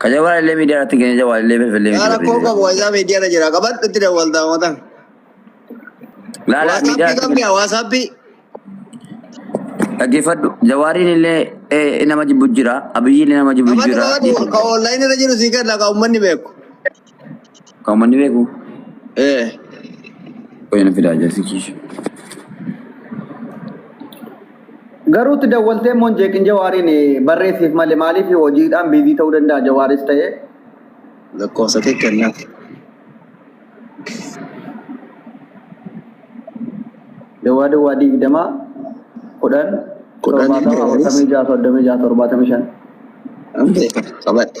Ka jawaa illee miidiyaa irratti keenya jawaa illee felfellee Yaa miti rakkoo barreessee qabu waysaa miidiyaa irra jira. Qabadhu itti dawwaltaa mootan. Laala miidiyaa Waasaappii irratti qabni yaa waasaappii. dhaggeeffadhu. Jawaariin illee eh, nama jibbu jira. Abiyyiin illee nama jibbu Qabadhu jira. qabadhu ka online irra jiru sii kenna ka uummanni beeku. Kan uummanni beeku Ee. qoyya na fidaa jarsi kiisha. Garuu itti dawwaltee immoo hin jeeqin jawaariin barreessiif malee maaliif hojiidhaan biizii ta'uu danda'a jawaaris ta'ee. Lakkoofsa kee kennaaf. Dawwaa dawwaa digdama kudhan Kudhan torbaatama jawaaris. afurtamii ja'a soddomii ja'a torbaatamii shan. An beeka qabadha.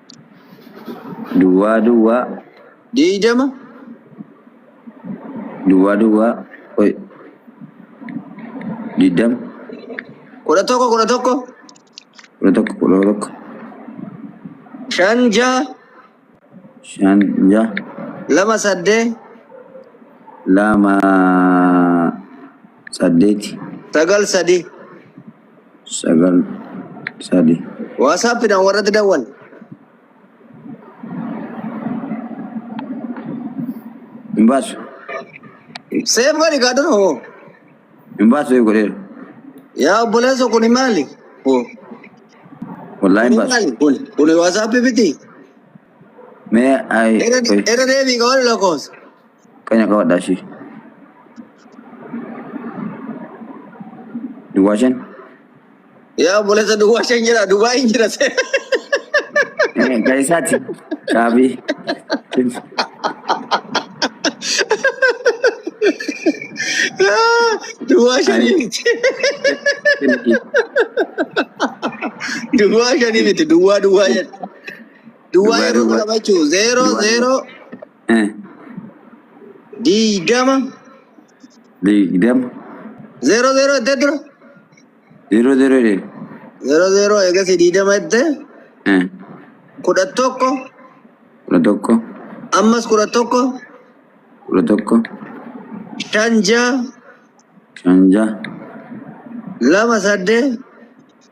duwwaa duwwaa deeydama duwwaa duwwaa qoy diddama kudha tokko kudha tokko kudha tokko kudha tokko shan jaha shan jaha lama saddee lama saddeeti sagal sadii sagal sadi. Waasaappiidhaan warratti dawwal. Hin baasu. Seef godhi kaa dura hoo. Hin baasu seef godheera. Yaa obboleessa kuni maali? Hoo. Wallaahi hin Kuni baasu. maali? Kuni kuni waasaappii miti. Mee ayi. Irra irra deebii kaa wal lakkoofsa. Qanya qabadhaa ishii. Duwwaa shan. Yaa obboleessa duwwaa shan jira duwwaa hin jira. Eh, Kan isaati. Caabii. Duwwaa shanii miti. Duwwaa shanii miti duwwaa duwwaa jedha. Duwwaa Duwwaa, yeroo duwwaa. qabachuu zeeroo Duwwaa. zeeroo Eh, Diidama. Digdama. Zeeroo zeeroo jettee dura. Yeroo yeroo dheeru. Zeeroo zeeroo eegas diidama jettee Eh, kudha tokko kudha tokko. ammas kudha tokko Kudha tokko. shan ja'a Shan ja'a. lama saddeet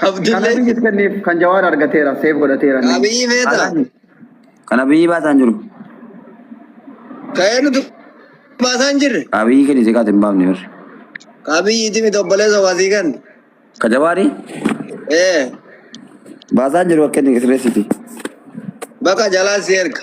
Kan Abdullee Abiyyiif kenneef kan Jawaar argateera, seef godhateera inni. Abiyyi feeta. Haalaani. Kan Abiyyi baasaa hin jiru. Ka'ee nuti baasaa hin jirre. Ka Abiyyi kennite kaate hin baafne barri. Ka Abiyyi iti miti obboleessa waasii kan. Ka Jawaari Ee baasaa hin jiru akka inni sirreessiti. bakka jalaa si erga.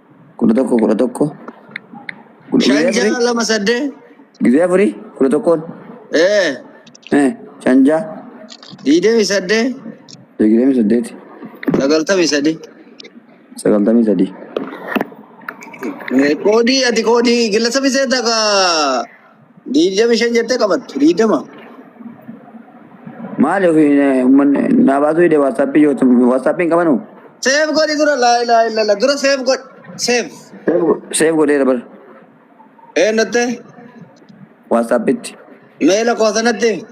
kudha tokko kudha tokko kudha- shan guyyaa ja'a afurii lama saddeet guyyaa afurii kudha tokkoon ee eh, shan ja'a digdamii saddeet digdamii saddeet sagaltamii sadii sagaltamii sadii koodii ati koodii gillasa biseeta ka Diidami shan jettee qabattu diidama. Maali ofii ummanni naa baasuu hidhe waatsaappii yoo waatsaappiin qabanu Seef godhi dura laa ilaa illallah dura seef godhi seef. seef godheera bara Eenyutte waatsaappitti mee lakkoofsa natti himi.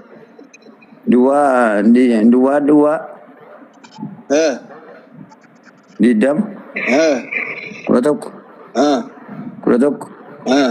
duwwaa di- duwwaa duwwaa Eh, digdama eh, kudha tokko eh, kudha tokko eh.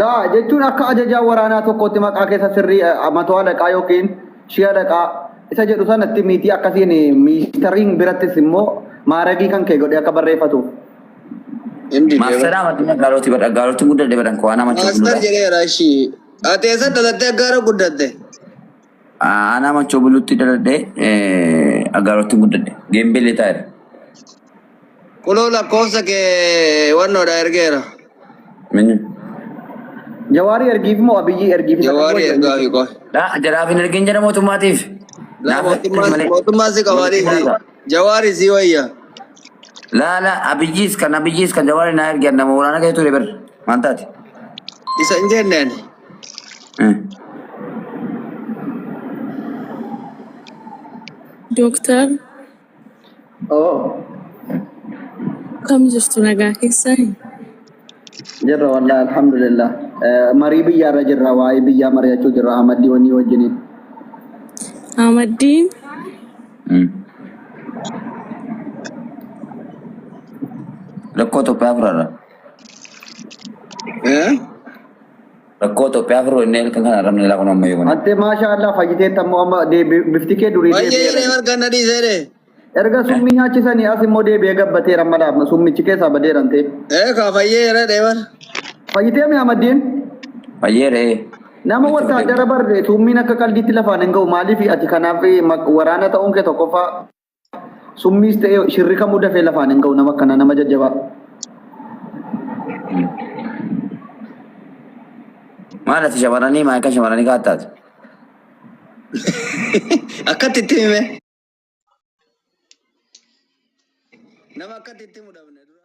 Laa jechuun akka ajajaa waraanaa tokkootti maqaa keessa sirrii matoo alaqaa yookiin shii alaqaa isa jedhu sanatti miitii akkasiin miistariin birattis immoo maaragii kan kee godhee akka barreeffatu. Hindi Maasteraa maddina gaalooti badha gaalooti guddaa deebiidhaan koo waan nama Master jedheera ishii. Ati eessa dhalattee gaara guddatte? Aanaa Machoo Buluutti dhaladhe Aggaarootti guddadhe. Geembee Leetaa irra. Kunoo lakkoofsa kee wannoodha ergeera. Minni. Jawaarii ergiif moo Abiyyii ergiif isa Jawaarii qaboo ergaa fi qofa. Dhaa jaraaf hin ergin jedha mootummaatiif. Laa Naaf ergi mootummaan malee. mootummaan si qabaanii Mootummaa si irraa. jawaarii si wayya. Laa laa abiyyiis kan abiyyiis kan jawaari naa ergi annama waraana keessa ture bar. Maal taate? Isa hin jenneen. Dooktar Oo, akkam jirtu nagaa keessani? jirra wallahi alhamdulillah. Eh, Marii biyyaarra jirra, waa'ee biyyaa mari'achuu jirra Ahmaddii wanii wajjiniin. Ahmaddiin Rakkoo tokko afurarra. Rakkoo Itoophiyaa furuu inni halkan kana argamne ilaa kun amma eeguna. Atte maashaa Allah fayyiteetta immoo amma deebi- bifti kee durii Baay'ee deebi'eera. jedhee margaan na dhiisee dhee. Erga summii nyaachisanii as immoo deebi'ee gabbateera amma laafna summichi keessaa badeeran ta'e. Ee kaa fayyee jedhee dhee bar. Fayyitee mi Ahmadiin? Fayyee dhee. Nama wattaaddara barre summiin akka qaldiitti lafaan hin ga'u maaliif ati kanaaf eh, maq- waraana ta'uun kee tokkoffaa Summiis ta'ee shirri kamuu dafee lafaan hin ga'u nama akkana nama jajjabaa. Maal ati shamarranii maa akka shamarranii kaattaatu? Akkatti itti hime. Nama akkatti itti himu dhabne dura.